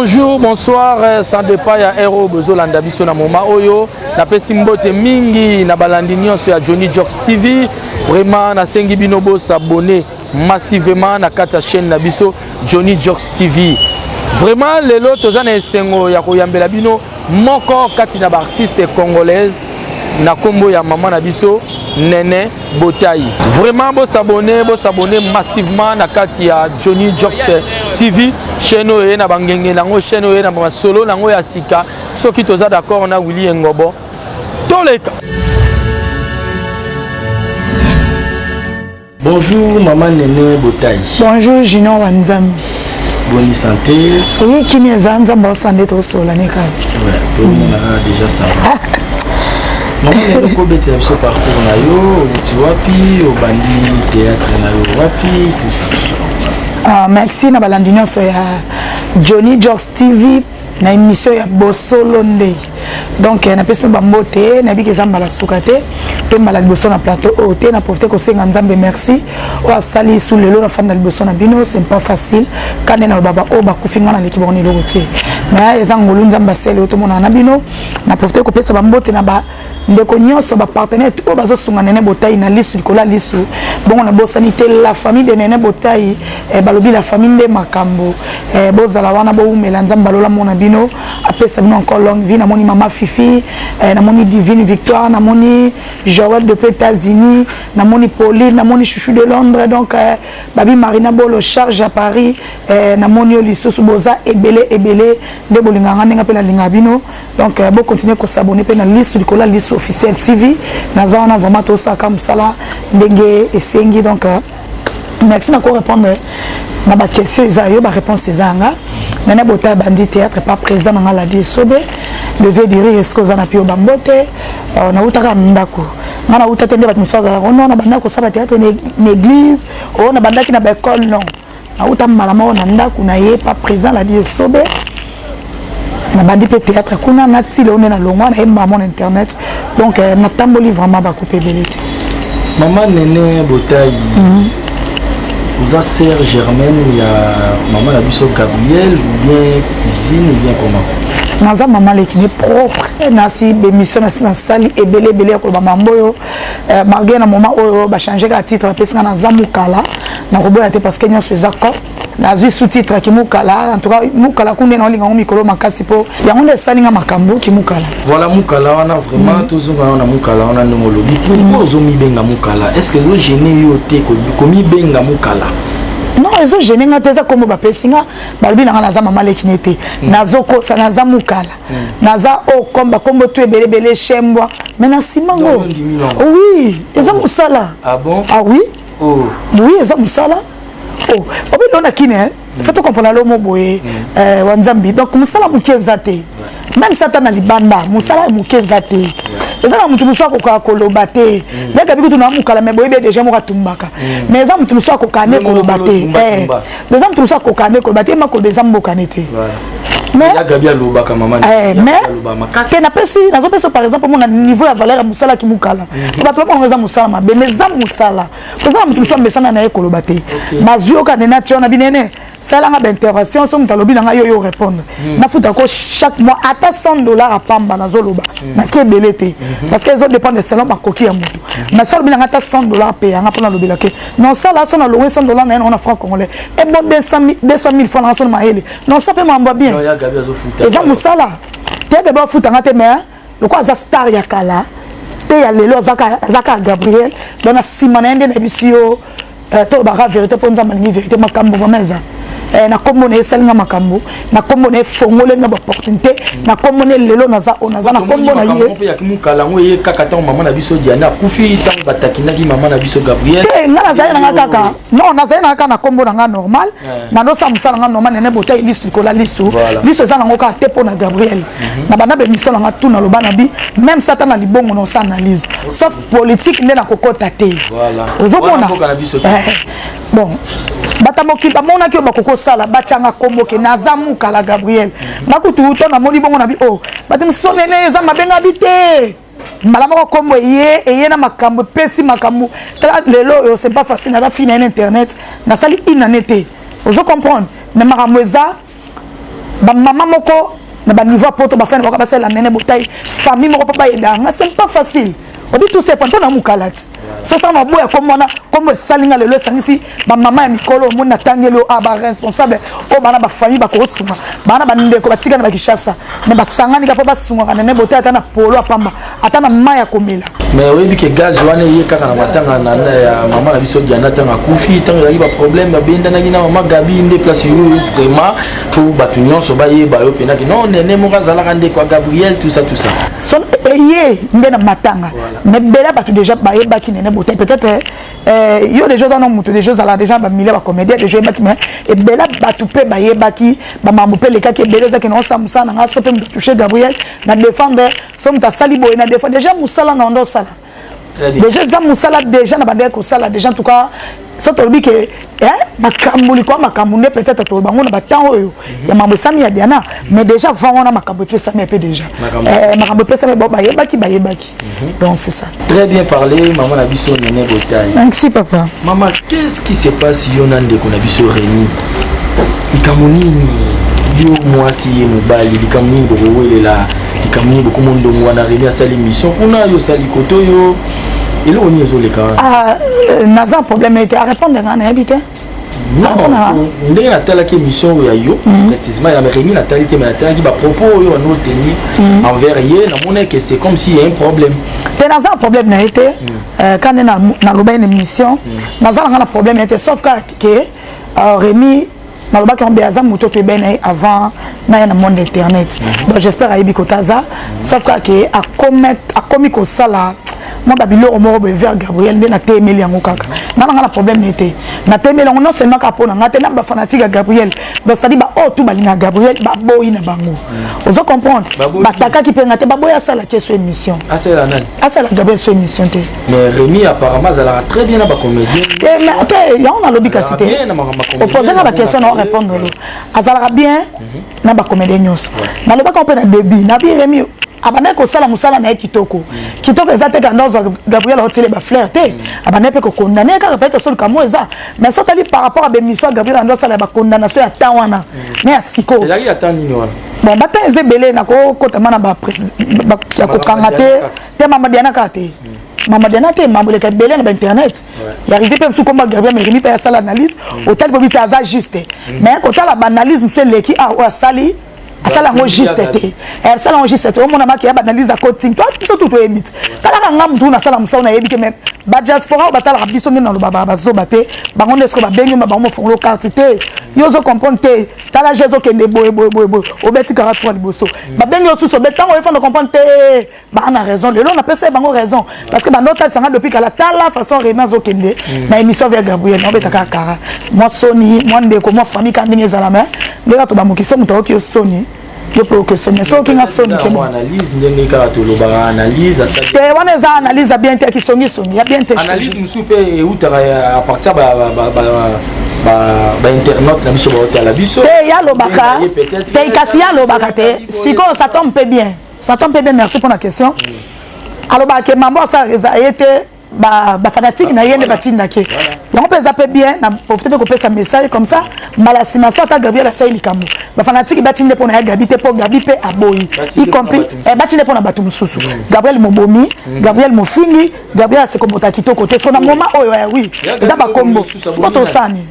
bonjour bonsoir euh, sans départ ya hero bozolanda biso na moma oyo napesi mbote mingi na balandi nyonso ya johnny jocks tv vraiment nasengi bino bosabone massivement na kati ya chaîne na biso Johnny Jocks TV. Vraiment lelo toza na esengo ya koyambela bino moko kati na baartiste congolaise na kombo ya mama na biso Nene Botayi. Vraiment bo s'abonner, bo s'abonner massivement na kati ya Johnny Jocks TV, chaîne oyo ye na bangenge nango, chaîne oyo ye na masolo nango ya sika. Soki toza d'accord na Willy Engobo, toleka. Bonjour maman Nene Botayi. Bonjour Junior wa Nzambi. Boni santé. Oui, kimi eza Nzambi osande to sola ne kaka. Ouais, to mona mm. déjà ça. Maman Nene ko bete biso parcours na yo, tu wapi, obandi théâtre na yo wapi, tout ça. Ah, merci na balandi nyonso ya Johnny George TV na emission ya bosolo nde donc eh, napesi mpe bambote eh, nayebi ke eza mbala suka te mpe mbala liboso na plateau oyo oh, te na profite kosenga nzambe merci oyo asali su lelo nafandi na liboso na bino c'est pas facile kande na lobaba oyo oh, bakufi ngai naleki bango na eloko te mais eza ngolu nzambe asele oyo tomonana na bino na profite kopesa bambote na ba Ndeko nionso ba partenaires tout oyo bazo sunga Nene Botayi na lisu likolo ya lisu bongo na bosani te la famille de Nene Botayi eh, balobi la famille nde makambo eh, bozala wana bowumela Nzambe balola mona bino apesa bino encore longue vie namoni mama Fifi eh, namoni Divine Victoire namoni Joël depuis États-Unis namoni Pauline namoni Chouchou de Londres donc eh, babi Marina Bolo charge à Paris eh, namoni yo lisusu boza ebele ebele nde bolinganga ndenge pe nalinga bino donc euh, bo continuer ko s'abonner pe na lisu likolo ya lisu officiel tv naza wana vraiment tosaka mosala ndenge esengi donc euh, merci na ko répondre na ba question eza yo ba réponse eza nga nana bota bandi théâtre pas présent na nga la die sobe le vieux diri est-ce que oza na pio bambote euh, na utaka ndako nga na uta te nde bato mosusu azalaka ono na bandaki kosala théâtre na église ono na bandaki na ba école non auta mbala moko na ndako na ye pa présent la vie esobe nabandi mpe théâtre kuna nati leo nde nalongwa na ye maman na internet donc euh, natamboli vraiment bakupe ebele te mama nene botai mhm. oza sœur germaine ya mama na biso gabriel ou bien cuisine ou bien comment naza mama leki ne propre nasi bemission nasi nasali ebele ebele ya koloba mambo oyo Euh, malgré na moment oyo bachange kaka titre apesi nga naza mukala nakoboya te parce que nyonso eza cop nazwi sous titre kimukala en tout cas mukala kunde naolinga yango mikolo makasi mpo yango nde esali nga makambo kimukala voilà mukala wana vraiment mm. tozonga yo na mukala wana ndenge olobi pourquoi ozomibenga mukala est ce que ezogene yo te komibenga mukala non ezogene nga te eza kombo bapesi nga balobi na nga naza mama lekine te mm. nazokosa naza mukala naza o oh, comme bakombo tu ebele ebele shembwa me na nsima ngo oui eza mosala ah, ah oui oh. oui eza mosala oh, obelelo na kine eh? mm. fo tokomprana lomo boye mm. eh, wa nzambi donc mosala moke eza te meme sata na libanda mosala ya moke eza te eza na moto mosusu akokaka koloba te mm. yakabi kutu na mokala me boyebi deja moko atumbaka mais eza moto mosusu akokaka ne koloba te Deza mtusa kokane ko bate makolo deza mbokane te. Mais la Gabi alobaka maman. Eh mais te na pesi nazo pesa par exemple mon niveau ya valeur ya musala ki mukala. Mhm. Bato ba ngeza musala mabe mais za musala. Pesa mtu mso mbesana na ye koloba te. Bazioka ne na tiona binene. Sala nga intervention so mtu alobi na nga yo yo répondre. Mhm. Na futa ko chaque mois ata 100 dollars à pamba nazo loba. Mhm. Na ke belete parce que ils ont dépendre selon ba koki ya mutu. Na sala bina nga ata 100 dollars paye nga pona lobela ke non ça là son alloué 100 dollars naye on a franc congolais et bon 200 200 000 francs na son mahele non ça pe mamba bien eza musala te gabi afuta nga te mais lokola aza star ya kala pe ya lelo aza ka Gabriel donc na sima na ye nde na bisi yo euh, to baka vérité po nzambe alingi vérité makambo vraiment eza eh, na kombo na ye esali nga makambo na kombo na ye fongole nga baopportunité na kombo na ye lelo naza oyo naza na kombo na yemukala yango eye kaka ntango mama na biso diana akufi ntango batakinaki mama na biso gabriel te nga nazali nanga kaka non nazali nanga kaka na kombo na nga normal nandosa mosala nga normal nene botai lisu likola lisu lisu eza nango kaka te mpo na gabriel mhm. na banda bemission nanga tu naloba na bi même sata na libongo na osa analyse sauf politique nde nakokota te ozomona eh. bon bata mokili bamonaki oyo bakoki kosala batyanga kombo ke naza mukala gabriel nga kutu to namoni bongo na bi o oh, bati mosusu nene eza mabenga bi te mbala moko nkombo eye eye na makambo epesi makambo tala lelo oyo c'est pas facile naza fina ye na internet nasali inane te ozo comprendre me makambo eza ba mama moko na ba niveau ya poto ba fana ba sala nene botai famille moko papa yenda nga c'est pas facile obi tout c'est pas na mukalati so ça na boya comme wana comme sali nga lelo sangisi ba mama ya mikolo mo na tangelo a ah, ba responsable o oh, bana ba famille ba ko sunga bana ba ndeko ba tika na ba kishasa mais ba sangani ka pa ba sunga nene botai ata na polo apamba ata na mai ya komela mais oyebi ke gaz wana eye kaka na matanga na ya mama na biso diana ntango akufi ntango ezalaki baproblème babendanaki na mama gabi nde place yoyo vraiment mpo bato nyonso bayeba yo mpenaki non nene moko azalaka ndeko ya gabriel tout ça tout ça eye nde na matanga mais bela bato déjà bayebaki nene botai peut-être euh, yo déjà oza na moto déjà ozala déjà bamile bacomédien déjà oyebaki mais ebela bato mpe bayebaki bamambo mpe elekaki ebele ezaki na osa mosala na ngai so mpe moto touche gabriel na défendre so moto asali boye na defa deja mosala na onda osala deja eza mosala deja na bandaki kosala deja en tout cas so tolobi ke makambo likolo makambo nde peut-être toloba yango na batemp oyo mhm. ya mambo esami ya diana mais déjà avant wana makambo epesami mpe déjà makambo epesami eh, bayebaki bayebaki mhm. donc c'est ça Très bien parlé, maman na biso Nene Botaille. Merci papa. Maman, qu'est-ce qui se passe yo na ndeko na biso Rémi? Likambo nini yo mwasi ye mobali likambo nini bokowelela likambo nini bokoma ndongo wana Rémi asali mission kuna yo osali koto yo eloko nini ezoleka wana? Ah, euh, naza problème ete arépondre ngai nayebi te. ndenge natalaki émission oyo ya yo mhm. précisement ya rémi natali te me natalaki bapropos oyo wana oteni mhm. envers ye namonaki que c'est comme si ya un problème te naza na problème na ye te mhm. euh, kande nalobaki na émission naza nanga na problème na ye te sauf kaka ke euh, rémi nalobaki yango aza moto toyebani na ye avant na ye na monde internet donc j'espère ayebi kota aza sauf kaka ke akomi kosala mwa babiloko moko boye vers gabriel nde natemeli yango kaka nga na nga na problème ne te natemeli yango non seulement kaka mpo na nga te na bafanatique ya gabriel donc cetadi baoyo tu balinga gabriel baboyi na bango mm. ozo comprendre batakaki mpe nga te baboyi asalaki ye so émission asala gabriel so émission te yango nalobi kasi te opose nga baquestion na orépondre lo azalaka bien na ba comédien nyonso na lobaka ope na début na bi Remy abandaki kosala mosala na ye kitoko kitoko eza te kanda ozwa gabriel otile ba fleur te abandaki mpe kokondane ye kaka peut-être soluka mo eza mais so otali par rapport a bemission ya gabriel anda osala ya bakondamnation ya temps wana na ya sikoyo ezalaki ya temps nini wana bon ba temps eza ebele na kokotama na ba ya kokanga te te mama diana kaka te mama diana te mambo eleka ebele na ba internet ya rigi mpe mosusu komba gerbia mais rimi mpe asala analyse mm. otali bobi te aza juste mm. mais kotala baanalyse mosusu eleki a ah, oyo asali asala yango juste te eh, asala yango juste te omona maki ya baanalyse ya coting to biso tu toyebi te talaka nga motu nasala mosala nayebi te meme badiaspora oyo batalaka biso nde nalobaka bazoba te bango nde soki babengi ma bango mofongolo karte te yo ozo comprendre te tala je ezokende boye boye boye boye obeti kaka twa liboso mm. babengi yo susu obe ntango oyefanda comprendre te baa na raison lelo napesa ye bango raison parce que banda otalisa nga depuis kala tala façon remi azokende mm. na émission via gabriel naobeta kaka kara mwa soni mwa ndeko mwa famille ka ndenge ezala mai nde kaka tobamoki so moto ayoki yo soni yo mpe oke soni soki nga soni te wana eza analyse ya bien te ya kisongisongi ya bien te analyse mosusu mpe eutaka ya partir bainternaute na biso baotala biso te yalobaka te kasi yalobaka te sikoyo sa tombe mpe bien Satan mpe bien merci pona question alobaka ke mambo asala reza ye te bafanatike na ye nde batindaki yango mpe eza mpe bien na profite mpe kopesa message comme ça mbala nsima so ata gabriel asali likambo bafanatike batinde mpo na ya gabi te mpo gabi mpe aboyi y compris eh, batinde mpo na bato mosusu gabriel mobomi mm. gabriel mofingi gabriel asekobota kitoko te so na moma oyo eh, oui eza bakombo mpo tosani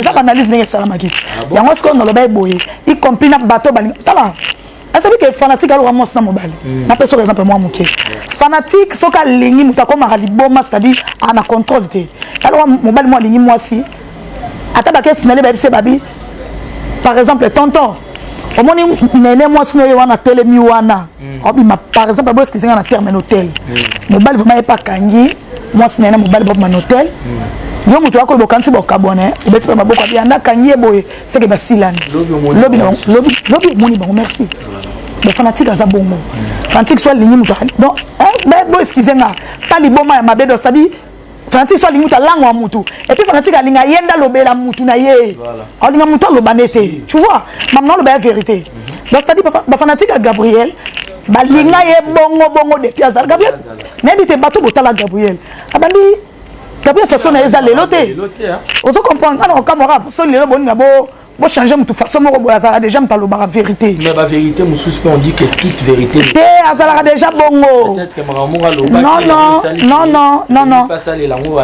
eza baanalyse ndenge esalamaki yango sikoyo naloba ye boye y compris na bato balinga tala asabi ke fanatique aloka mwasi na mobali mm. napesi oka exemple mwa moke fanatique soki alingi moto akomaka liboma c'est-à-dire ana contrôle te aloka mobali mwa alingi mwasi ata bakesi na ye bayebisi babi par exemple tonton omoni nene mwasi noye wana atelemi wana mm. obima par exemple aboyeskizinga na terme na hotel mm. mobali vraimen ye mpe akangi mwasi na ye na mobali bobima na hotel hmm. yo moto yakoyeba okanisi bokabwana obeti mpe maboko abi yanda akangi ye boye seke basilani lobi omoni bango merci bafanatique aza bongo hmm. fanatique so alingi moto donc bo excuse nga ta liboma ya mabe do sadi fanatique so alingi moto alangwa motu epuis fanatique alinga ye nde alobela motu na ye alinga motu aloba nde te tu vois mamna aloba ya vérité hmm. donc sadi bafanatique ya gabriel balinga ye bongo bongo depuis azala gabriel nayebi te bato botala gabriel abandi gabriel façon na ye eza lelo te ozo comprendre ana kokamwaka so lelo boni na bo bochange motu façon moko boye azalaka déjà moto alobaka vérité mais bavérité mosusu mpe on dit que toute vérité te azalaka déjà bongo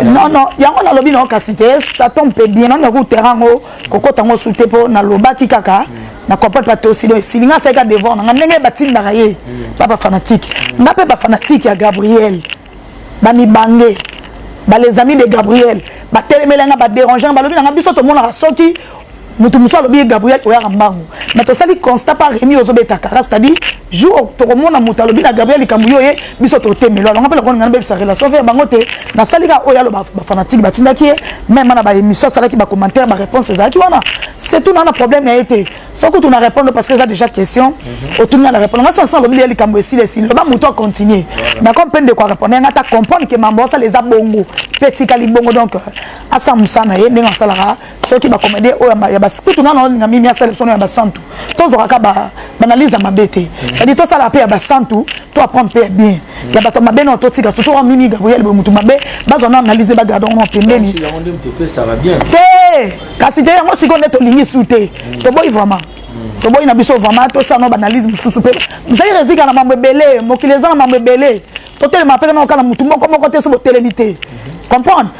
non non yango nalobi nao kasi te ça tombe mpe bien nani yakoutera yango kokota yango su te mpo nalobaki kaka na comprendre bato osi donc esili ngai asalika devoir na ngai ndenge batindaka ye ba bafanatike ngai mpe bafanatike ya gabriel bamibange bales amis de gabriel batelemela ngai baderange ngai balobi na ngai biso tomonaka soki moto mosusu alobi ye gabriel oyaka mbangu mais tosali constat pa remi ozobetaka c'est-à-dire jour tokomona moto alobi na gabriel likambo yo ye biso totemelo alonga mpe lokola ngai nabebisa relation fe ya bango te nasali kaka oyo aloba bafanatike batindaki ye meme na baémission asalaki bacommentaire baréponse ezalaki wana surtout naa na problème na ye te soki tuna répondre parce que eza déjà question mhm. otuni nga na répondre nga sansa alobi ya likambo esili esili loba moto acontinue d'accord mpe ndeko arépondre yanga ata comprendre ke mambo asala eza bongo mpe etikali bongo donc euh, asala mosala na ye ndenge asalaka soki bacomédien oyo ya basikutu nano olinga mimi asala biso ya basantu tozwaka kaka baanalyse ya mabe te cetadi tosala mpe ya basantu to apprendre mpe ya bien ya bato mabe nao totika surtout wana mimi gabriel boye motu mabe bazwa na analyse bagarde yango na pembeni te kasi te yango sikoyo nde tolingi su te toboyi vraiment toboyi na biso vraiment tosala na baanalyse mosusu mpe zai rezika na mambo ebele mokili eza na mambo ebele totelema mpe kanaokana motu moko moko te so botelemi te comprendre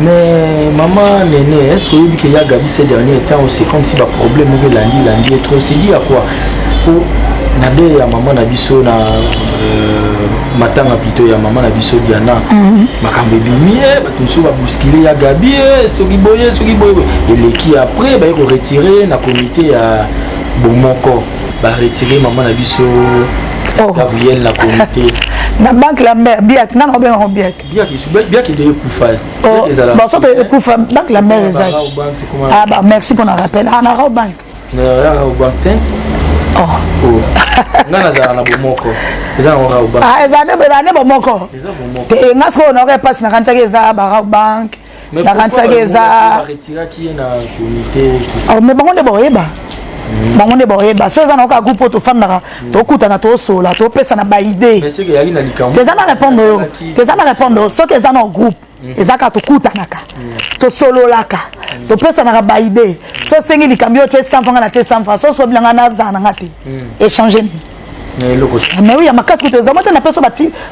Mais maman Nene, est-ce que vous qu'il y a Gabi ces derniers temps c'est comme si le problème est lundi, lundi est trop. C'est dit à quoi Pour Nadé, ya maman na biso na euh, matanga plutôt ya maman na biso Diana. Mhm. Makambo ebimi, eh, bato mosusu ba bousculer ya Gabi, eh, soki boye, soki boye. Eleki après ba ko retirer na comité ya bomoko. Ba retirer maman na biso oh. Gabriel na comité. na banque la mère biat nana obengaka biat basoto ekufa bank la mare ezaki ah, bah, merci mpona rappel ah, na raobank eza nde bomoko te nga sikoyo naoka epasi nakanisaki eza baraobank nakanisaki eza oh, mais bango nde bakoyeba mm. bango nde bakoyeba so eza na oka groupe oyo tofandaka mm. tokutana tosolola topesana baide eza na répondre yo eza na répondre yo soki eza na groupe mm. eza kaka tokutanaka tosololaka topesanaka baide so osengi likambo yo te sanfa nga na te sanfa so sobi na nga nazala na nga te échange nini mais oui ya makasi kutu ezalaki te na peso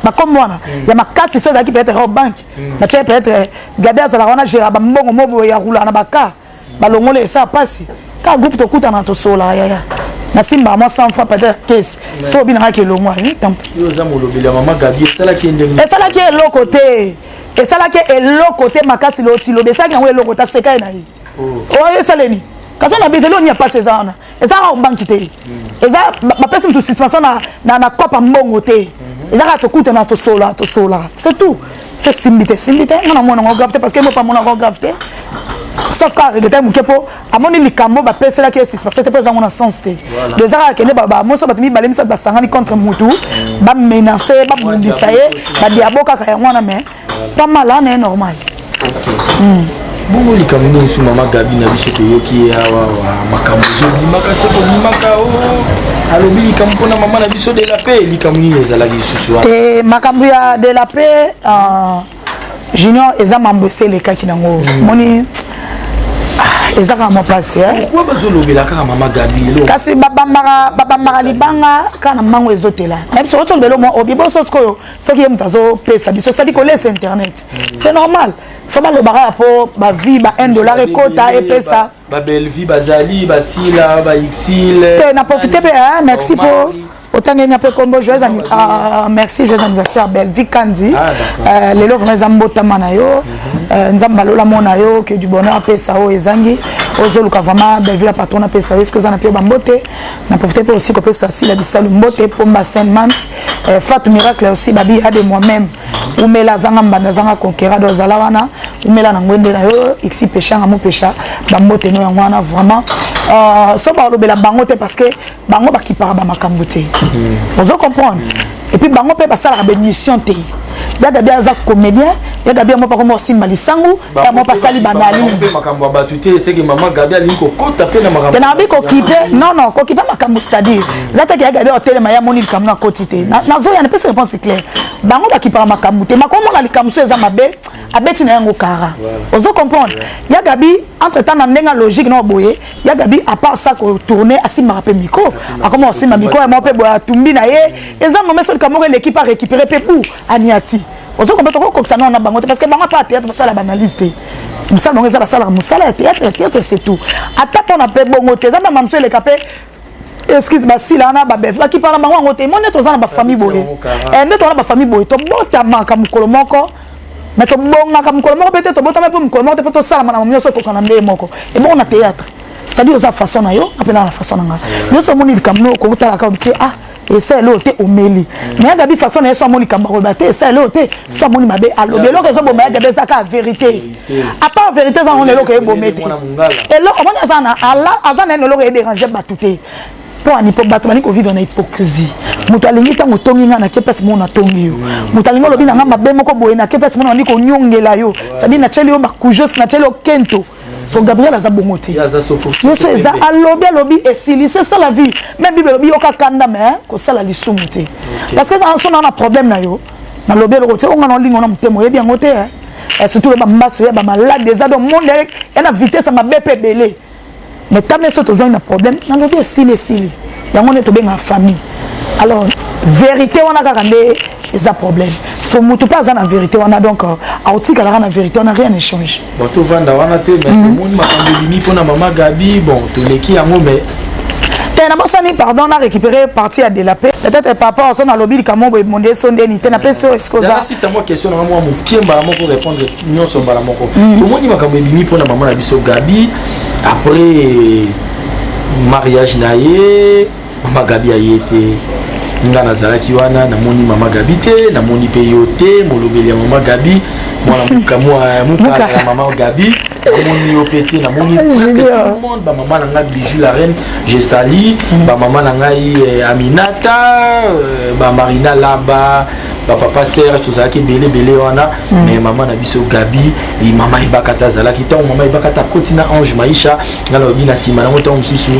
bakombo wana ya makasi so ezalaki peut-être banke parce que peut être gabi azalaka wana gera bambongo mo boye ya rula na baka balongoli esa mpasi kaka groupe tokutana tosololaka yaya nasimbaka mwa 100 fois peut-être kesi so obi nangaki elongwa esalaki eloko te esalaki eloko te makasi lotilobi esalaki yango eloko te asekaye na ye oh. oyo oh, esalemi kasi na bizeli onia mpasi eza wana eza kaka banki te eza bapesi moto suspension na, na, na kopa mbongo te eza kaka tokutana tosola tosola c'est tout c'est simbi te simbi te nga na mwana ngo grave te parce que mopa mwana ngo grave te sauf kaka regrete moke mpo amoni likambo bapeselaki ye suspension te mpo ezango na sens te do eza kaka kende bamoso bato mibale misato basangani contre motu bamenace babundisa ye badiabo kaka yango wana mais Pas mal, hein, est normal. Okay. Mm. bongo likambo nini su mama gabi na biso toyoki ye awa makambo ezobimaka se kobimaka o oh. alobi likambo mpona mama na biso de la paix likambo nini ezalaki lisusu wana te makambo ya de la paix euh, junior eza mambo esi elekaki nango mm. moni ah, eza kaka mopasi kasi babambaka libanga kaka na mango ezotela na biso otolobela obiboso sikoyo soki ye moto azopesa biso sadi kolesa internet mm. c'est normal fama alobaka ya mpo bavie ba 1 dollar ekota epesa babelvie bazali basila baixile te na profite mpe eh, merci mpo otangeli na mpe nkombo joyeux ah, merci joyeux anniversaire bellevie kandi ah, euh, lelo vraimen eza mbotama na yo mhm. euh, nzambe alola mona yo que du bonheur apesa oyo ezangi ozoluka vraiment bellevie la patron apesa yo eske oza na mpe bambote na profite mpe aussi kopesa sila bisalu mbote pomba saint mams eh, fatu miracle aussi babi ade moi-même umela azanga mbanda azanga conquerado azala wana umela na ngwende na yo ixi pesha nga mopesha bambote no yango wana vraiment uh, so balobela bango te parce que bango bakipaka bamakambo te mm. ozo comprendre mm. epuis bango mpe basalaka baémission te ya gabi aza comédien ya gabi yango pakomba osimba lisangu yango basali baanalyse makambo ya bato te eseke mama gabi alingi kokota mpe na makambo na babi kokipe non non kokipe makambo c'est-à-dire eza te ke ya gabi otelema ye amoni likambo nakoti te nazoya napesi réponse claire bango bakipaka makambo te makomona likambo so eza mabe abeti na yango kara ozo comprendre ya gabi entre temps na ndenge logique na boye ya gabi à part ça kotourne asimbaka mpe miko akoma kosimba miko yango mpe boye atumbi na ye eza momeso likambo moko eleki mpe arécupere mpe bu aniati ozo comprendre toko kokisa nao na bango te parce que bango ata théâtre basala banalyse te mosala bango eza basalaka mosala ya théâtre ya théâtre c'est tout ata mpona mpe bongo te eza na mamso eleka mpe excuse basila wana babev bakipana bango yango te moni toza na bafamille boye eh, nde toza na bafamille boye tobotamaka mokolo moko me tobongaka mokolo moko mpe te tobotama mpe mokolo moko te mpo tosalama na mamo nyonso ekokana ndeye moko ebongo na théâtre c'est-à-dire oza façon na yo apena na façon na ngai nyonso omoni likambo noko otalaka otie ah esaleli oyo te omeli mais agabi façon na ye so amoni likambo akoloba te esaleli oyo te so amoni mabe alobi eloko ezoboma ya gabi eza kaka verité apart verité eza ngona eloko ebome te eloko omoni aza na aza na yena eloko ederange bato te mpo ani mpo bato bani kovivre na hypocrisie moto alingi ntango otongi ngai nake mpasi mona natongi yo moto alingi olobi na ngai mabe moko boye nake mpasi mona bandi konyongela yo sadi natyeli yo makujos natyeli yo kento so gabriel aza bongo te yesu eza alobi alobi esili se sala vie me bible elobi yoka kanda me kosala lisumu te parce que eza sona na problème na yo nalobi eloko te onga na olingo na motema oyebi yango te eh, surtout loba mbaso ya bamaladi eza do monde ya na vitesse ya mabe mpe ebele me ta meso tozangi na problème nalobi esili esili yango nde tobengaka famille alors verité wana kaka nde eza problème so motu mpe aza na verité wana donc euh, aotikalaka na verité wana rien échange bon tovanda wana te mais mhm. omoni makambo ebimi mpo na mama gabi bon toleki yango mais te eh, nabosani pardon na récupéré parti ya delape peut-être papa oso nalobi likambo boye monde eso ndeni te napesi oyo esikozaasisamo question nanga mwa moke mbala moko répondre nyonso mbala moko mm. tomoni makambo ebimi mpo na mama na biso gabi après mariage na ye mama gabi aye te nga nazalaki wana namoni mama gabi te namoni mpe yo te molobeli ya mama gabi mwana mukala ya mama gabi namoni yo mpe te namoni monde bamama na ngai bijou la reine je sali mm. bamama na ngai eh, aminata eh, bamarina laba bapapa serge tozalaki ebele ebele wana mm. mais mama na biso gabi mama ebakata azalaki ntango mama ebakata akoti na ange maisha nga nalobi na nsima nango ntango mosusu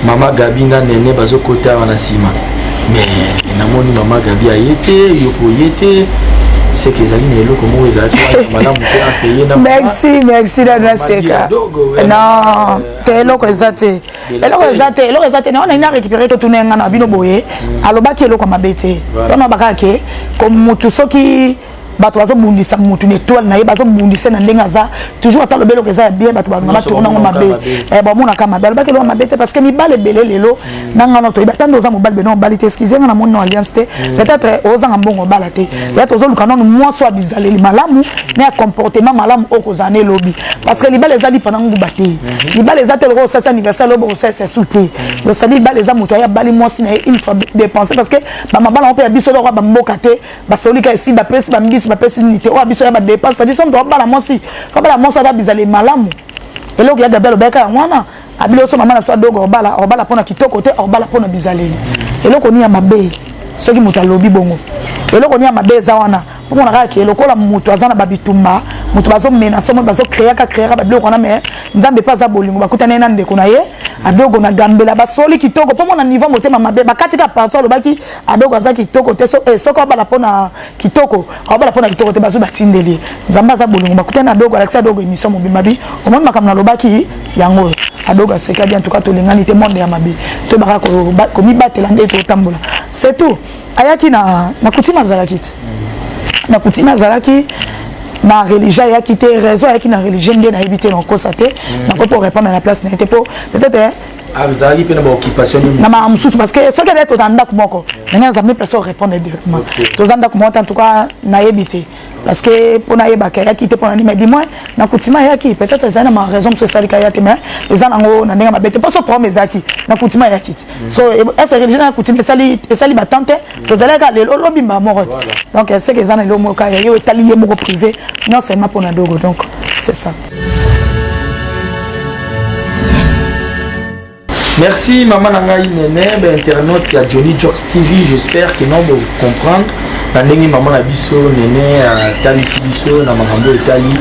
mama gabi na nene bazokota awa na nsima me namoni mama gabi aye te yoko ye te seke ezali na eloko moko ezalaki malamu te apeye na merci merci dada seka non te eloko eza te eloko eza te eloko eza te naona ina récupéré totuna ye ngai na bino boye mm. alobaki eloko mabe te tona bakaka ke motu soki bato bazobundisa mutu na etoile na ye bazobundisa na ndenge aza toujours ata lobeloko eza ya bien bato balinga batourna yango mabe eh, bamonaka mabe alobaki eloko mabe te parce que mibale ebele lelo mm. na ngana toyebi ata nde oza mobali bena obali te eskize nga na moni na alliance te mm. peut-être ozanga mbongo obala te mm. ya tozoluka nano mwasi oyo bizaleli malamu na ya comportement malamu oyo kozala na elobi parce que libala eza lipa na nguba te mm-hmm. libala eza te lokola osalisa anniversaire lobo osalisa esu te osali libala eza moto aye abali mwasi na ye une fois dépense parce que bamabala yango mpe ya biso eloko ya bamboka te basolika esi bapesi bambisi bapesi nini te oyo biso ya badepense sadi somo tobala mwasi tobala mwasi ata bizali malamu eloko ya gabi alobaka yango wana abili oso mama na biso adogo obala obala mpo na kitoko te obala mpo na bizaleli eloko nini ya mabe soki moto alobi bongo eloko nini ya mabe eza wana omona kaka ke lokola moto aza na babitumba moto bazomena somo bazokreaka kreaka babiloko wana me nzambe mpe aza bolingo bakutani ye na ndeko na ye adogo na gambela basoli kitoko mpo mona niveau motema mabe bakati ka parti alobaki Adoko aza kitoko te so eh, soko abala pona kitoko abala pona kitoko te bazo batindeli nzambe aza bolongo bakutani na dogo alakisa dogo emission mobimba bi omoni makambo nalobaki yango oyo adogo aseka bien tuka tolingani te monde ya mabe toyebaka komibatela nde totambola c'est tout ayaki na na kutime azalaki te na kutime azalaki na religion ayaki te raison ayaki na religion nde nayebi te nakosa te nakoki korépondre na place na ye te mpo peut-être azalaki mpe na baoccupation nini na makambo mosusu parce que soki ezali tozala ndako moko ndenge naza mpe mpe so répondre directement toza ndako moko te en tout cas nayebi te parce que mpo nayebaka ayaki te mpo na nini mais du moins na coutima ayaki peut-être ezali na ma raison mosusu esalika aya te mais eza nango na ndenge mabe te mpo so problème ezalaki na coutima ayaki te mm. so ese religion ya coutima esali batemp te mm. tozalaki kaka lelo lobi mbaa moko te donc seke eza na lelo moko kaka yo etali ye moko privé nyonso ema mpo na dogo donc c'est ça Merci maman na ngai nene ba internaute ya Johnny Jokes TV j'espère que non bo comprendre na ndenge maman na biso nene atalisi biso na makambo etali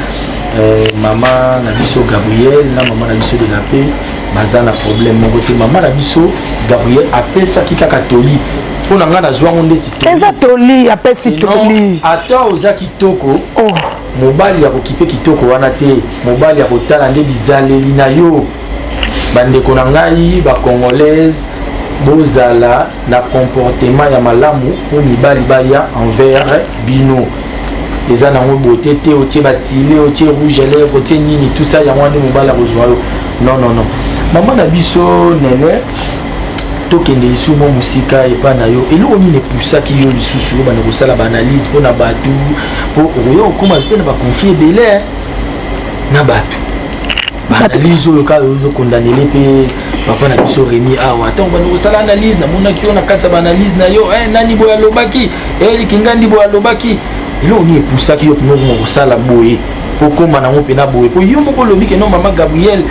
euh, mama na biso Gabriel na mama na biso de la paix baza na problème moko te mama na biso Gabriel apesaki kaka toli mpo na ngai nazwango ndeti eza toli apesi toli ata oza kitoko oh. Mobali ya kokipe kitoko wana te, mobali ya kotala nde bizaleli na yo. Bandeko na ngai ba congolaise bozala na comportement ya malamu mpo mibali baya envers bino eza nango bote te otie batile otie rouge à lèvre otie nini tout ça yango wana mobali akozwa yo non non non mama na biso nene tokende lisusu mwa mosika epai na yo eloko nini epusaki yo lisusu obanda kosala baanalyse mpo na bato mpo okoya kokoma mpe na bakonflit ebele eh, na bato baanalyse oyo kaka ozokondanele mpe papa na biso remi awa ntango banda kosala analyse namonaki yo na kati ya baanalyse na yo eh, nani boye alobaki elikingandi eh, boye alobaki eloko nini epusaki yo mpenza okoma kosala boye okoma nango mpena boye mpo yo moko olobi keno mama gabriel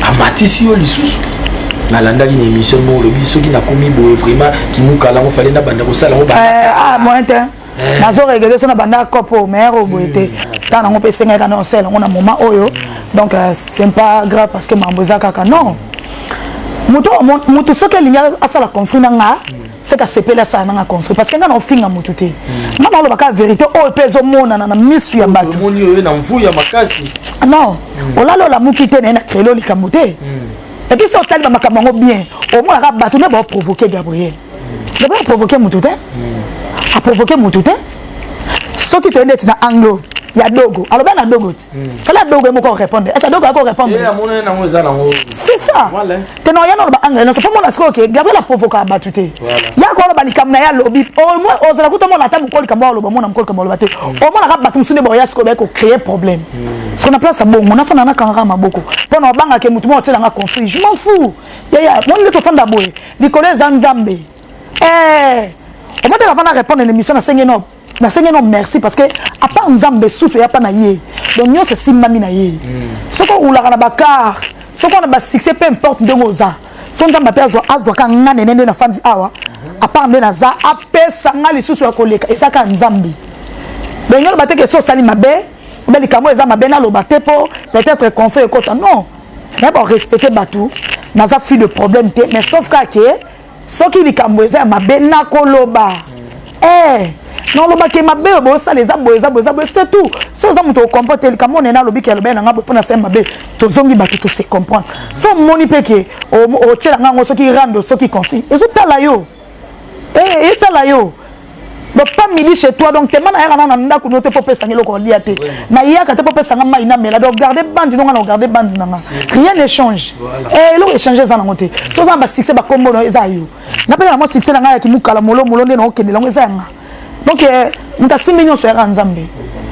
amatisi yo lisusu nalandaki na émission moko olobi soki nakomi boye vraiment kimukala yango fale nabanda kosala yango eh, ah, moyen te eh. nazo regrete so nabanda cope oyo meilleur oyo boye te hmm. ntango nango mpe esengaki kana osala yango na moment oyo donc euh, c'est pas grave parce que mambo eza kaka non moto soki alingi asala conflit na nga hmm. seke asepeli asala nanga conflit parce que nga naofinga motu te hmm. nga naoloba kaka verité oyo mpe ezomonana na misu ya bato non hmm. olali olamuki te naye na krelo likambo te hmm. epuis so otali bamakambo yango bien omonaka bato nde baoprovoke gabriel nde baoprovoke motu te aprovoke motu te soki toyende eti na anglo ya dogo aloba na dogo te fala adogo moko orépondre ese adogo ako orépondre c'est ça tena oya naloba anglais nyonso mpo mona sikoyo ke gabriel aprovoka bato te yaka oloba likambo na ye alobi omoi ozala kuta omona ata mokolo likambo aloba omona mokolo likambo aloba te omonaka bato mosusu nde baoya sikoyo baye kocreye problème siko na place ya bongo nafanda nakangaka maboko mpo na obangaka motu moko otyelanga conflit je m'en fou yaya moni nde tofanda boye likolo eza nzambe eh, omotaka mpo na répondre na émission nasengi no nasengi no merci parce que apart nzambe souffle ya pa na ye donc nyonso esimbami na ye hmm. soki oulaka na bakar soki wana basuccès peu importe ndenge oza so nzambe mpe azwaka nga nene nde nafandi awa hmm. apart nde naza apesa nga lisusu ya koleka eza kaka nzambe donc yo loba te ke so osali mabe obe likambo eza mabe naloba te mpo peut-être conflit ekota non nayeba orespecte bato naza fille de problème te mais sauf kaka ke soki likambo eza ya mabe nakoloba eh, nalobaki mabe oyo bosala eza boye eza boye eza boye c'est tout so oza moto okompo te likambo oyo nene alobi ke alobeli na ngai boye mpo na sala mabe tozongi bato to se comprendre so omoni mpe ke otyela ngai yango soki rando soki consi ezotala yo eh, etala yo donc pas midi chez toi donc tema nayaka nanga na ndako no te mpo opesanga eloko olia te nayaka te mpo opesanga mai namela donc garde bandi nonga na ogarde bandi nanga rien ne change eh, eloko échange eza nango te so oza na basuccès bakombo na eza yo nga mpe na mwa succès na ngai ya kimukala molomolo nde naokende lango eza yanga donc eh, moto asimbi nyonso yaka nzambe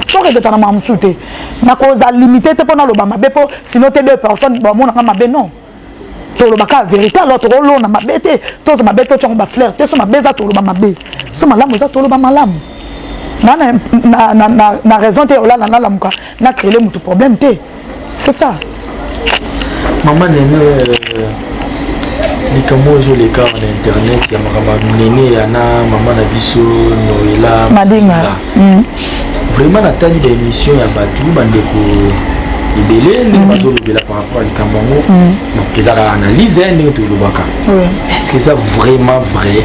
soki eketa na mamusu te nakozala limité te mpo naloba mabe mpo sino te deux personnes bamonaka mabe non toloba kaka verité alors tokolona mabe te toza mabe te otyango bafleur te so mabe eza toloba mabe so malamu eza toloba malamu na, na, na, na, na, na raison te olala nalamuka na créele motu problème te c'est ça mama nene euh, likambo oyo ezoleka na internet ya makambo ya nene ya na mama na biso noela madinga mm. vraiment natali ba émission ya bato bandeko ebele ndenge mm. bazolobela par rapport ya likambo yango mm. donc ezalaka analyse eh, ndenge tolobaka est-ce que eza vraiment vrai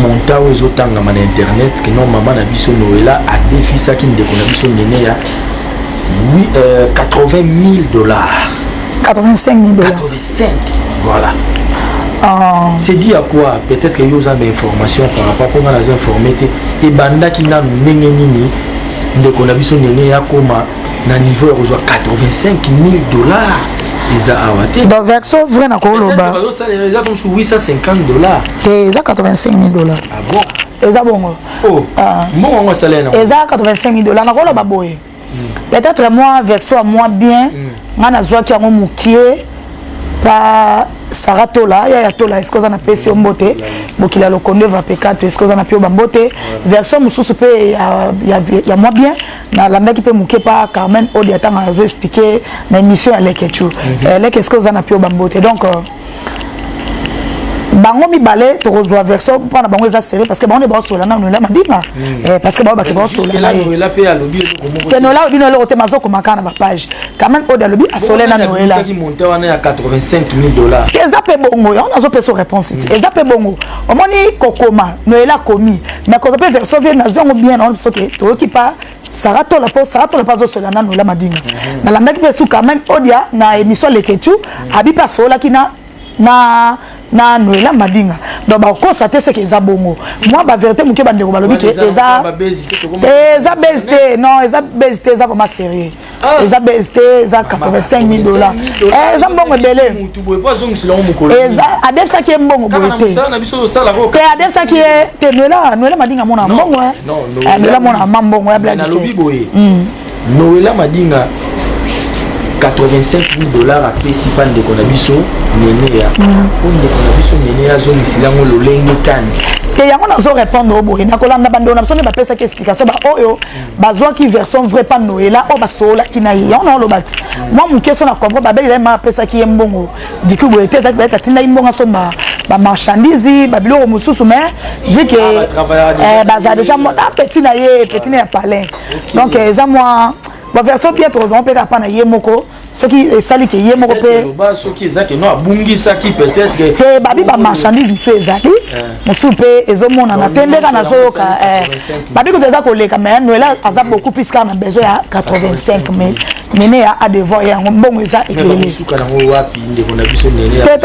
monta oyo ezotangama na internet ke non mama na biso noela adefisaki ndeko na biso nene ya 80 000 dollars 85 000 dollars 5. Voilà. Ah. C'est dit à quoi Peut-être que yo oza ba information par rapport mpo nga naza informe te ebandaki nanu ndenge nini ndeko na biso ndenge yakoma na niveau ya kozwa 85 000 dollars eza awa te donc version vrai nakoloba eza comme 850 dollars te eza 85 000 dollars ah bon eza bongo oh. ah. mbongo yango asala eza 85 000 dollars nakoloba boye peut-être mwa version ya mwa bien mm. ngai nazwaki yango mokie pa sara tola ya ya tola eske oza na pesi yo mbote bokila lokondo eva pekato eske oza na pio bambote version mosusu mpe ya, ya, ya mwa bien nalandaki mpe moke pa carmen odi atanga azo explike na émission ya leke chu mm -hmm. eh, leke eske oza na pio bambote donc euh, bango mibale tokozwa version mpo na bango eza sere parce que bango nde baosola na noela mabinga hmm. eh, parce que bango bake baosola te noela alobi noela ote mazokoma kaka na bapage kaman ode alobi asole na noela eza mpe bongo yango nazopesa réponse te hmm. eza mpe bongo omoni kokoma noela akomi mais koza mpe version vie nazwi yango bien naona biso te toyoki pa Sarah Tola po Sarah Tola pazo sola na Nola Madinga. Mhm. Na landaki pe suka même Odia na émission Leketchu mhm. abi pa sola ki na na na Nola Madinga. Donc ba ko sa te ce que eza bongo. Moi ba vérité muke ba ndeko balobi ke eza eza beste non eza beste eza vraiment sérieux. Ah. eza bese te eza 85000 dollars eh, eza mbongo ebele eza adefisaki ye mbongo boye te te adefisaki ye te noela noela madinga mona mbongo eh. eh, noela mona ma mbongo ya bladi te hmm. noela madinga 85 000 dollars apesi mpa ndeko na biso neneya mpo hmm. ndeko na biso neneya azongiseli yango lolenge kani te yango nazo répondre oyo boye nakolanda bandeko na biso nde bapesaki explication baoyo bazwaki version vrai pa noela oyo basoolaki na ye yango na oloba ti mwa moke so na comprend babeli ye ma apesaki ye mbongo diku boye te ezalaki bayete atindaki mbongo asomba bamarchandise babiloko mosusu mais vu que eh, baza déjà ah, petit na ye petit na ya palin donc eza mwa baversion bien tozwa mpe kaka mpa na ye moko soki esali ke ye moko mpe babi bamarchandise mosusu ezali eh. mosusu mpe ezomonana te ndeka nazoyoka eh. babi kutu eza koleka mai noela aza beaucoup plus kaka na besoin ya 85 mille nene ya adevoir ya yango mbongo eza ekelele te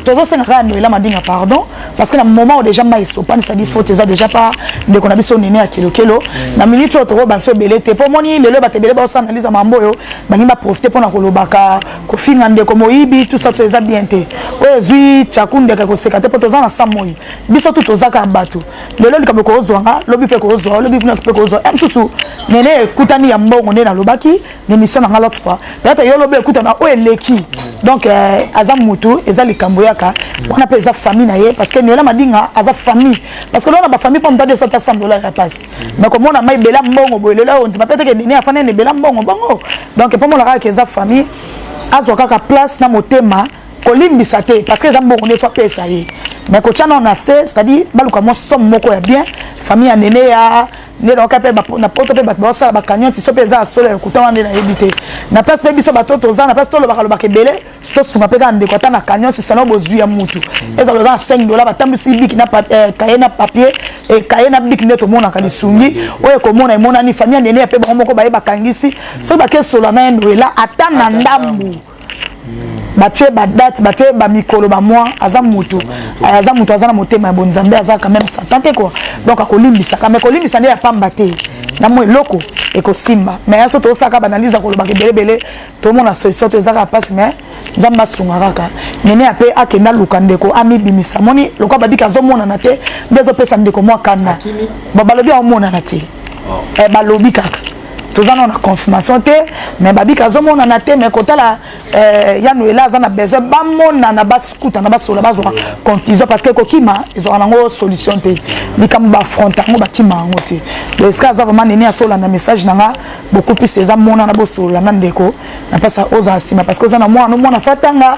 tozosenga kaka noela madinga pardon parce que na moment oyo déjà mai esopani sadi faute eza déjà pa ndeko na biso nene ya kelokelo na minute oyo tokoyeba biso ebele te mpo omoni lelo bato ebele baosa analyse ya mambo oyo balingi baprofite mpo na kolobaka kofinga ndeko moyibi tout ça tout eza bien te oyo ezwi tiaku ndeke koseka te mpo toza na sa moi biso tu toza kaka bato lelo likambo ekozwa nga lobi mpe ekozwa lobi mpe ekozwa ya mosusu nene ekutani ya mbongo nde nalobaki n'emission nanga l'autre fois peut-être yo lobi ekuta na oyo eleki mm. donc euh, aza mutu eza likambo yaka mm. wana mpe eza famille na ye parce que niola madinga aza famille parce que lona bafamille mpo moto ade sota sam dollar ya pasi mm. donc omona mai bela mbongo boye lelo ondima mpe teke nini afanda ene bela mbongo bongo donc mpo mona kaka ke eza famille azwa kaka place na motema kolimbisa te parce que eza mbongo nde fapesa ye mais kotya nao na se c'est-à-dire baluka mwa somme moko ya bien famille ya nene ya nde nayoka mpe na poto mpe bato baosala bakanyoti so mpe eza ya solo ya lokuta wana nde nayebi te na place mpe biso bato toza na place tolobaka lobaka ebele tosunga mpe kaka ndeko ata na kanyoti sana bozwi ya mutu mm. ezala oza na 5 dola batambwisi biki na eh, kaye na papier eh, kaye na biki nde tomonaka lisungi oyo ekomona emonani famille nene ya mpe bango moko baye bakangisi soki bakesola na ye noela ata na ndambu batie badate batie bamikolo bamwa aza motu eh, aza motu aza na motema ya bonzambe aza quand même satan te kua donc akolimbisaka mais kolimbisa nde ya pamba te na mwa eloko ekosimba mais ya so tosaka banalyse akolobaka ebelebele tomona solution to ezaka mpasi mais nzambe asunga kaka nene ape akende aluka ndeko amibimisa moni lokola babiki azomonana te nde ezopesa ndeko mwa kanda balobi aomonana te oh. eh, balobi kaka toza nao na confirmation te mais babika azomonana te mais kotala euh, ya noela aza na besoin bamonana bakutana basola bazwa conclusion parce que kokima ezwaka nango solution te likambo bafronta yango bakima yango te eske aza vraiment nini asola na message na nga bokupisa eza monana bosolola na ndeko na mpasa ozala nsima parce que oza na mwana omwana fatanga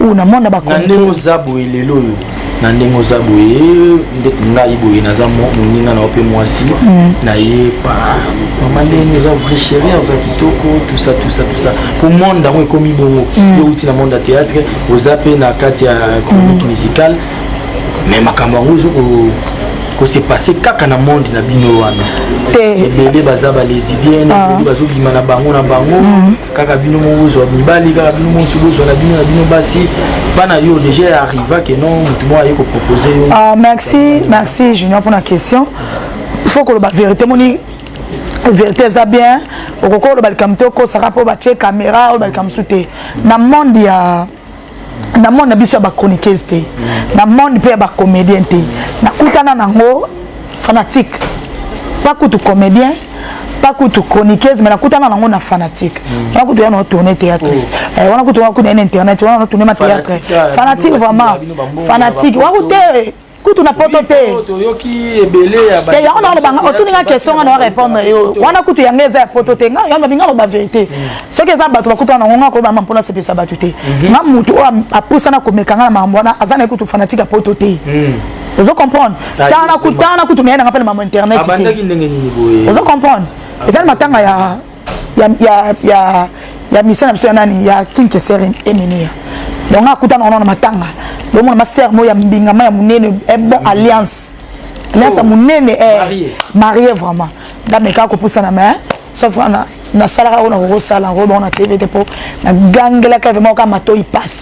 oyo na mwana ba ndenge oza boye lelo oyo na ndenge oza boye ndeti ngai boye naza moninga na yo mpe mwasi mm. na ye mama ndenge oza vrai chérie oza kitoko tusa tusa tusa mpo monde yango ekomi bongo mm. yo outi na monde ya théâtre oza mpe na kati ya chronique mm. musicale mais makambo yango ezo kose passe kaka na monde na bino wana te ebele baza balesibienne ah. ebele bazobima na bango na bango mm. kaka bino moko bozwa mibali kaka bino mosi bozwa na bino na bino basi bana yo déjà ya arriva ke non motu moko aye kopropose yo ah, merci merci junior mpona question faut koloba vérité moni vérité eza bien okoki oloba likambo te okosaka mpo batye caméra oloba likambo mosusu te na monde ya na monde na biso ya ba chroniqueuse te na monde mpe ya ba comédien te nakutana nango fanatique pas kutu comédien pas kutu chroniqueuse mais nakutana nango na fanatique mm. wana kutu ya na tourne théâtre oh. eh, wana kutu wana kutu ya na internet wana na tourne ma théâtre fanatique vraiment fanatique waku te kutu na poto te te yango naolobanga otuni nga question nga na warépondre yo wana kutu yango eza ya poto te nga yango binga loba vérité mm. soki eza bato bakuta na ngonga koyeba ma mpona sepesa bato te mhm. nga motu oyo apusana komeka nga na makambo wana aza na ye kutu fanatique ya poto te mm. ozo comprendre tana kutu tana kutu meyana nga mpe na mambo internet ozo comprendre eza na matanga ya ya ya ya ya misa na biso ya nani ya king kesere emilia donc nga akutana wana na matanga bomona ma sœur mo ya mbingama ya munene eh, bon alliance alliance ya oh. munene eh marié vraiment dameka kopusana mais sauf wana nasalaka oyo nakokosala yango bongo na tv te mpo nagangelaka vraimen oka matoi pasi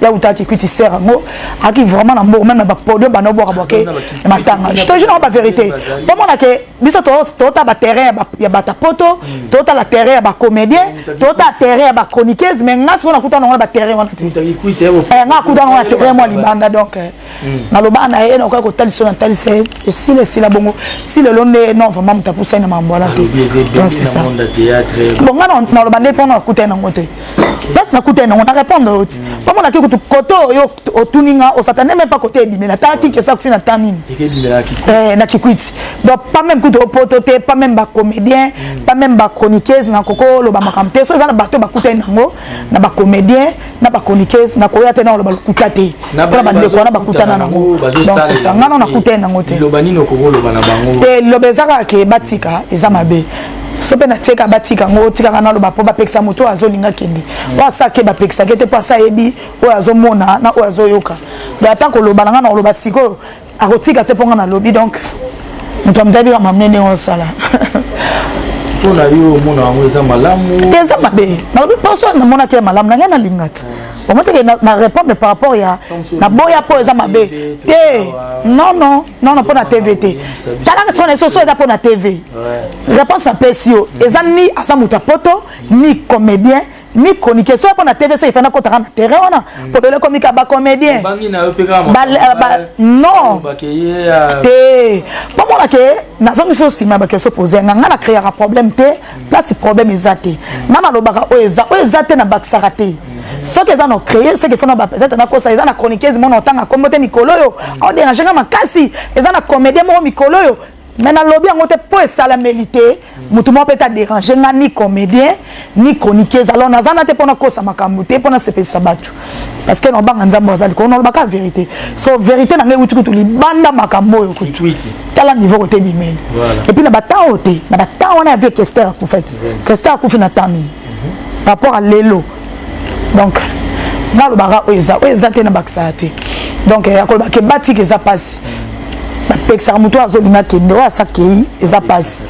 ya uta kikwiti ser yango aki vraiment na mbongo meme na baproduit banda obwaka bwake matanga jetoji nao baverité bomona ke biso totala baterrain ya bata poto mm. totala terrain ya bacomédien mm, totala terrain ya bachroniqueuse mais nga sikoyo nakuta nango na baterrain wana te eh, nga akuta nango na terrain mwa libanda donc eh. nalobaka na ye nakoki kotalisa na talisa ye esila esila bongo ti lelo nde non vraiment moto apusani na makambo wana te bonga naloba nde mpona nakutani nango te place nakutani nango na répondre yo ti mpo monaki kutu kote oyo otuni nga osatane meme pa kote ebimela ta kinkesa kufi na ta nini eh, na kikwiti donc pas meme kutu opoto te pas meme bacomédien pas meme bachroniqueuse nakokoloba makambo te so eza na bato bakutani nango na bacomédien na ba chroniqueuse na koya te na oloba lokuta te mpona bandeko wana bakutana nango donc c'est ça nga no nakutani nango te te liloba eza kaka ke batika eza mabe so mpe natieka batika yango otikaka naloba mpo bapekisa moto oyo azolinga kende mm. mpo asa ke bapekisaki te mpo asa ayebi oyo azomona na oyo azoyoka ata koloba na ngai na koloba sikoyo akotika te mpo nga nalobi donc moto amitabi kaka mamine ndenge osala mpo na yo omona yango eza malamu te eza mabe nalobi poso namonaki ya malamu na ngai nalinga te bango teke na répondre par rapport ya naboya mpo eza mabe te non non non non mpo na tv te talaka sikoyo na biso so eza mpo na tv réponse apesi yo eza ni aza moto ya poto ni comédien mi chroniquer soki mpo na tv soki efanda kotaka na terrain wana polele ekomi ka bacomédien non te bomona ke nazongi so nsima ya bakesio pose yanga ngai na créaka problème te place problème eza te ngai nalobaka oyo eza oyo eza te na bakisaka te soki eza na créer soki efona peut-être nakosa eza na chroniqueuse mona otanga nkombo te mikolo oyo aoderange nga makasi eza na comédien moko mikolo oyo mais nalobi yango te mpo esalameli te motu moko mpe ta dérange nga ni comédien ni chroniqueuse alors naza na te mpo nakosa makambo te mpo nasepelisa bato parce que nabanga nzambe aza likolo nalobaka vérité so vérité na ngai euti kutu libanda makambo oyo kutu tala niveau kote bimeli epuis na batemp oyo te na batemp wana ya vie kester akufaki kester akufi na temps nini par rapport à lelo donc nalobaka oyo eza oyo eza te nabakisaka te donc ya koloba ke batika eza mpasi bapekisaka moto oyo azolinga kende oyo asakei eza mpasi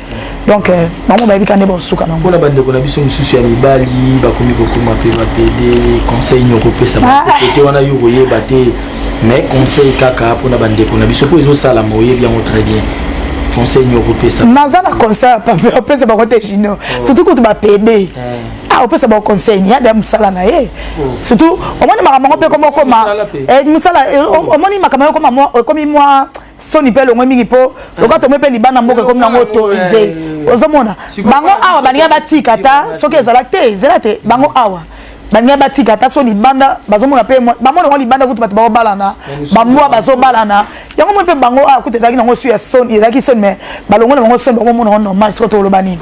donc euh, bango bayebi ka nde baosuka nango mpona bandeko na biso mosusu ya mibali bakomi kokoma mpe bapede conseil nini okopesa ah. te wana yo koyeba te mais conseil kaka mpona bandeko na biso mpo ezosalama oyebi yango très bien conseil nini okopesa naza na conseil apesa bango te junior oh. surtout kutu bapede eh. ah opesa ba conseil ya da musala na ye hmm. surtout omoni makambo yango mpe ekoma okoma mosala eh, eh, hmm. omoni makambo yango ekoma ekomi mwa soni mpe elongwe mingi mpo hmm. lokola tomoi mpe libanda mboka ekomi nango autorise ozomona bango awa balinga batika ata soki ezala te ezala te bango awa balinga batika ata so libanda bazomona mpe bamona yango libanda kutu bato baobalana bambwa bazobalana yango moi mpe bango awa ah, kuta ezalaki nango su ya soni ezalaki soni mais balongo na bango soni bakomona yango normal soko toloba nini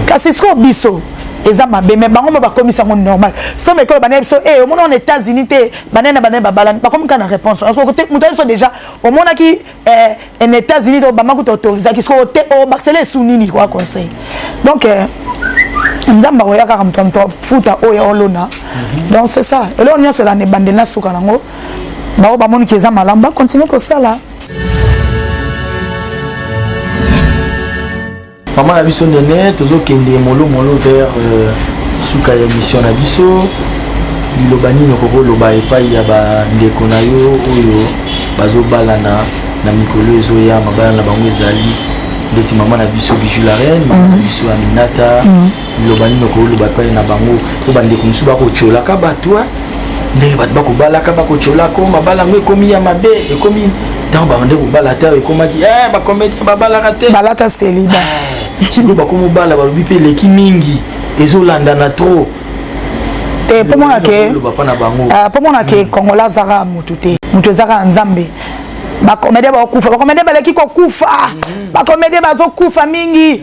kasi sikoyo biso eza mabe mais bango mo bakomisi yango normal somo ekolo bana biso e eh, omoni wana états-unis te banene banene babalani bakomi kaka na réponse moto ya biso déjà omonaki eh, en états unis donc bama kuta autorisaki soko te obakisela oh, esu nini kwa conseil donc euh, nzambe akoya kaka moto ya moto afuta oyo olona mhm. donc c'est ça eloko nyonso elana ebandeli na suka nango baoyo bamoni ke eza malamu bakontinue kosala Maman na biso nene tozokende molo molo vers euh, suka ya emission na biso liloba nini okoki oloba epai ya bandeko na yo oyo bazobalana na mikolo ezoya mabala na bango ezali ndeti mama na biso bijou la reine mama na mhm. biso aminata mhm. Liloba nini okoki koloba epai na bango? Mpo bandeko mosusu bakotyolaka bato eh. ndenge bato bakobalaka, bakotyolaka oh, mabala yango ekomi ya mabe, ekomi ntango babande kobala te ekomaki eh, bakomete babalaka te, balata seliba eh, sikoyo bakomi obala, balobi mpe eleki mingi, ezolandana trop te mpo mona ke mpo mona ke kongola azaka motu te motu ezaka ya nzambe bakomede bakokufa bakomede baleki kokufa mm. bakomede bazokufa mingi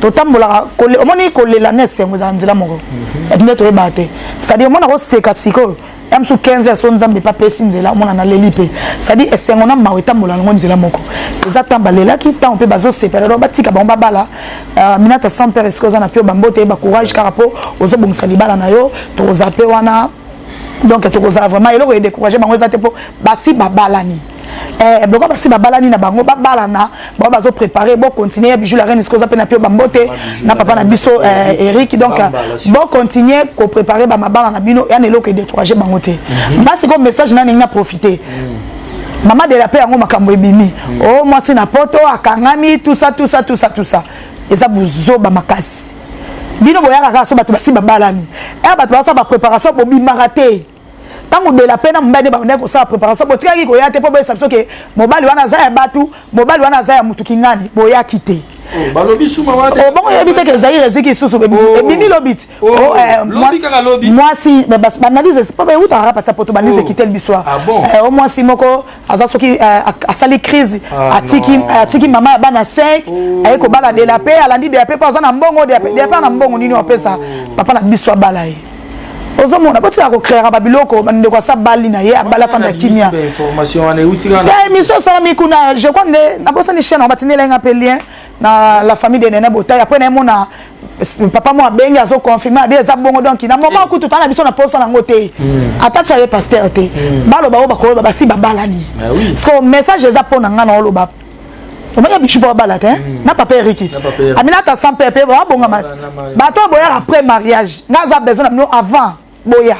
totambolaka omoni kolela na esengo ezala nzela moko mhm. epi nde toyebaka te cestadire omona koseka sikoyo ya mosusu 15 heures so nzambe epa apesi nzela omona naleli mpe cestadire esengo na mawa etambola nango nzela moko eza ntango balelaki ntango mpe bazosepela donc batika bango babala euh, minata sans père esika oza na mpio bambote yeba courage kaka mpo ozobongisa libala na yo tokoza mpe wana donc tokozala vraiment eloko edécourage bango eza te mpo basi babalani eh, boko basi babalani na bango babalana bango bazo prépare bo continuer ya bijou la reine esikoza mpe na pio bambote na papa na biso eh, eric donc bo continuer ko préparer bamabala na bino yana eloko edécourage bango te mhm. basi ko message na ndenge na profite mhm. mama de la paix yango makambo ebimi mhm. o oh, mwasi na poto akangami tusa tusa tusa tusa eza buzoba makasi bino boyaka kaka so bato basi babalani e eh, bato basala bapréparation bobimaka te ntango bela mpe na mobali nde babandaki kosala préparation botikaki koya te mpo boyesa biso ke mobali wana aza ya bato mobali wana aza ya motu kingani boyaki te oh, balobi suma wana obongo oh, yebi te ke zaire eziki lisusu oh. ebimi lobiti eh, mwasi baanalyse mpo beutaka kaka patia poto baanalyse ekiteli biso ah eh, o mwasi moko aza soki eh, asali crise ah, atiki mama ya bana 5 aye kobala dela mpe alandi dela mpe mpo aza na mbongo dela mpe na mbongo nini wapesa papa na biso abala ye ozomona botika kocreaka babiloko bandeko asa bali na ye abala fanda ya kimia émission esalami kuna je crois nde nabosani chaine batindelai nga mpe lien na la famille de nene botai apres nayemona papa mo abengi azoconfirme abi eza bongo donk na moment eh. kutu tala biso na posa nango te hmm. ata ti aye paster te hmm. baloba oyo bakoyeba basi babalani ah parceke message eza mpo na ngai naoloba omoni ya bichupa babala te hmm. na papa erikit amina ta sans pepe babonga mati bato boyaka après mariage nga aza besoin na bino avant boya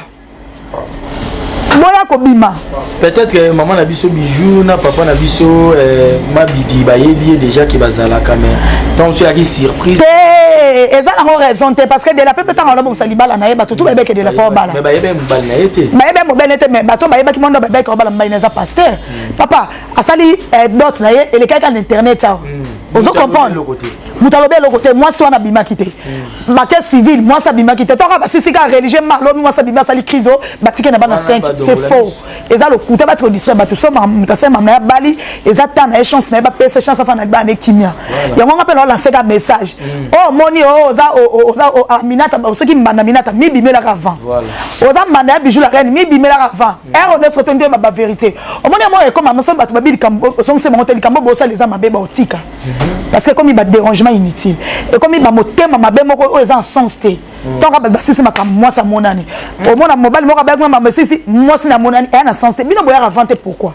boya kobima peut-être que maman na biso bijou na papa na biso eh, mabidi bayebi ye déjà ke bazalaka mais ntango so eyaki surprise te eza nango raison te parce que de la pepe ntango alobongisa libala na ye bato tu bayebeke de la pa obala bayebi mobali na ye te bayebi mobali na ye te mais bato bayebaki mondo babeke obala mobali na eza paster hmm. papa asali eh, dot na ye elekaki kaka na internet awa mm. ozo comprendre moto alobi eloko te mwasi wana abimaki te mm. bake civile mwasi abimaki te toka basisi kaka religieux malobi mwasi abimi asali crise o batike na bana 5 c'est faux eza lokuta batika odistra bato so moto asali mama ya bali eza ta na ye chance na ye bapesa chance afa na bana ekimia yango nga mpe naolanseka message mm. o oh, moni o oh, oza oh, oza aminata soki mbanda minata mibimelaka avant oza mbanda ya bijou la reine mibimelaka avant Ero nde photo nde ba verite. Omoni yango ekoma maso bato babi likambo osongisi bango te likambo bosala eza mabe baotika parce que ekomi ba dérangement inutile ekomi ba motema mabe moko oyo eza en sens te ntango bato basisi makambo mwasi amonani omona mobali moko abayaki mama esisi mwasi na amonani eya na sens te bino boyaka avant te pourquoi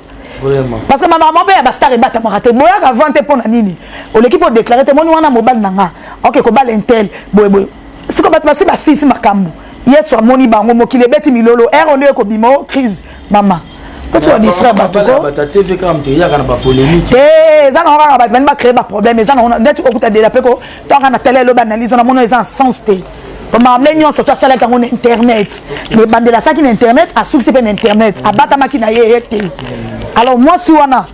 parce que makambo mpe ya bastar ebatamaka te boyaka avant te mpo na nini oleki mpo déclare te moni wana mobali na nga oke kobala intel boyeboye siko bato basi basisi makambo Yesu amoni bango mokili ebeti milolo ero nde ekobima o crise mama eza nango kaka bato bani bacree baproblème eza nango ndeti okuta dela mpe ko toaka na tele elobi analyse na mono eza na sens te mamle nyonso to asalaki yango na internet ebandela asalaki na internet asukisi mpe na internet abatamaki na ye ye te alors mwasi wana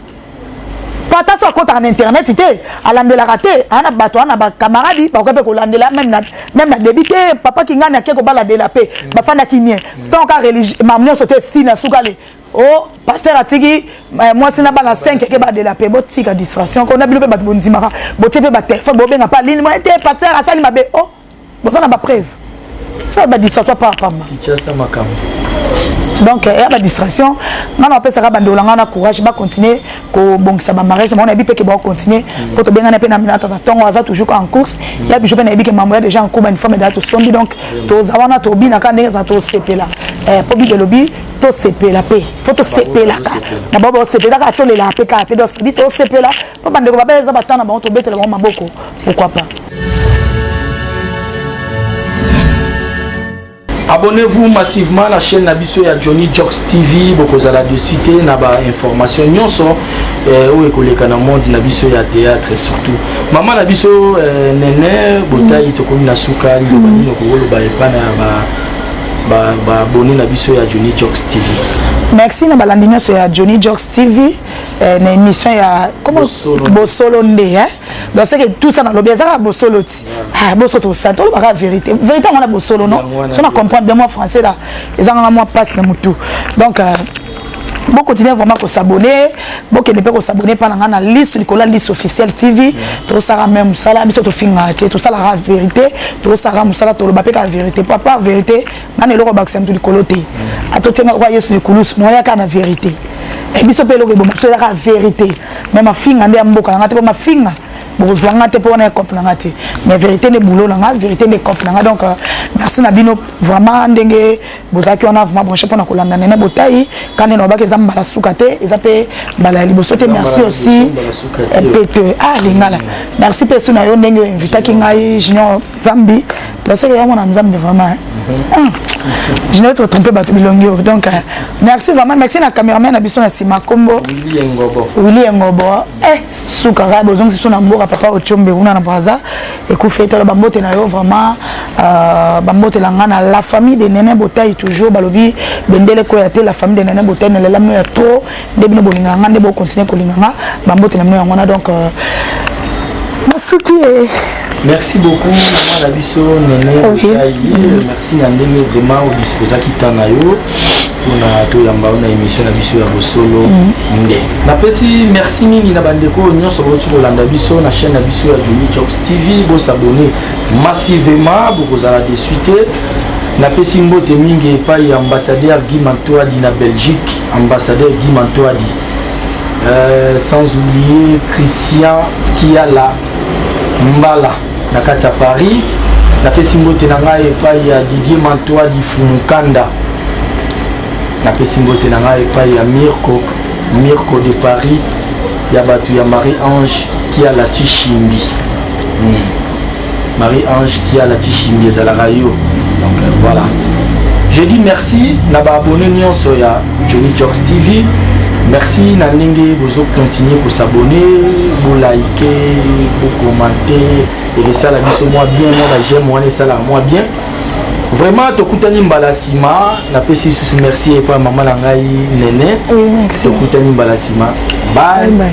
pata so akotaka na internet te alandelaka te ana bato ana bacamaradi bakoki mpe kolandela meme na, meme na debi te papa kingani ake kobala de la paix mm. bafanda kimie mm. tant ka religie mam nyonso te si na sukali o oh, paster atiki eh, mwasi na bana 5 eke ba de la paix botika distraction ko na bino mpe bato bondimaka botie mpe batelefone bobenga mpe alini mwa te paster asali mabe o oh. boza na bapreuve sala badistraction par pamba donc ya badistraction ngai napesaka bandeko na ngai na courage bacontinue kobongisa bamariage bango nayebi mpe ke baocontinue mpo mm. tobengani mpe na minata na ntongo aza toujours en course mm. ya bijo mpe nayebi ke mambo ya déjà en cours bauniforme dala tosombi donc mm. toza wana tobinaka ndenge eza tosepela eh, mpo bible elobi tosepela mpe fo tosepelaka na bao baosepela kaka tolelaka mpe kaka te donc tosepela po bandeko babela eza batana bango tobetela bango maboko pourquoi pas Abonnez-vous massivement la chaîne Nabiso ya Johnny Jocks TV bokozala dessus te na ba information nyonso eh, oyo ekoleka na monde na biso ya théâtre surtout mama na biso eh, nene botayi tokomi na suka liloba nini okokoloba epai na ba baabone na biso ya Johnny Jocks TV merci na balandi nyonso ya Johnny Jocks TV eh, na émission ya bosolo nde eh? donc seke tout ça nalobi eza kaka bosolo ti ah, boso tosala tolobaka vérité vérité yango na bosolo no so na comprendre bien mwa français la ezanganga mwa mpasi na motu donc euh, bokontinue vraiment kosabone bokende mpe kosabone mpa na ngai na liste likolo ya liste officielle tv tosalaka me mosala biso tofingaka te tosalaka verité tosalaka mosala toloba mpe kaka verité papa verité nani eloko abakisa moto likolo te atotianga lokola yesu na ekulusu noya kaka na verité eh, biso mpe eloko eboma biso eza kaka verité me mafinga nde ya mboka na ngai te mpo mafinga bokozwa ngai te mpo wana ecope na ngai te mais verité nde boulot na ngai verité nde ecope na ngai donc euh, merci na bino vraiment ndenge bozalaki wana vraiment branche mpo na kolanda nene botai kande na obaki eza mbala suka te eza mpe mbala ya liboso te merci aussi mpete ah lingala merci mpe esu na yo ndenge oinvitaki ngai junior Zambi, la sœur vraiment na Zambi vraiment. Hein. Mhm. Ah, je n'ai pas trompé bato bilongi donc euh, merci vraiment merci na cameraman na biso na sima kombo Willy Ngobo Willy Ngobo eh suka kaka bozongisi biso na mboka papa Ochombe kuna na Brazza ekufi etala bambote na yo vraiment euh, bambote la nga na la famille de Nene Botayi toujours balobi bendele ko ya te la famille de Nene Botayi na lelami ya trop nde bino bolingaka nga nde bocontinue kolinga nga bambote na bino yango wana donc euh, nasuki e merci beaucoup mama na biso nene okai merci na ndenge vraiment odispozaki temps na yo mpona toyamba yo na émission na biso ya bosolo mm. nde napesi merci mingi na bandeko oyo nyonso bauti kolanda biso na chaîne na biso ya joli jobs tv bosabone massivement bokozala desui te napesi mbote mingi epai ya ambassadeur guy mantoadi na belgique Ambassadeur Guy Mantoadi, euh, sans oublier Christian Kiala Mbala na kati ya Paris. Napesi mbote na ngai epai ya Didier Mantoadi Fumukanda. Napesi mbote na ngai epai ya Mirko Mirko de Paris ya bato ya Marie-Ange Kiala Chishimbi. Hmm. Marie Ange Kiala Tshishingi ezalaka yo. Donc euh, voilà. Je dis merci na ba abonnés nyonso ya Johnny Jokes TV. Merci na ndenge bozo continuer ko s'abonner, bo liker, bo commenter et esala biso mwa bien mwa ba j'aime wana esala mwa bien. vraiment tokutani mbala nsima napesi lisusu merci epai mama na ngai nene tokutani mbala nsima bye, bye.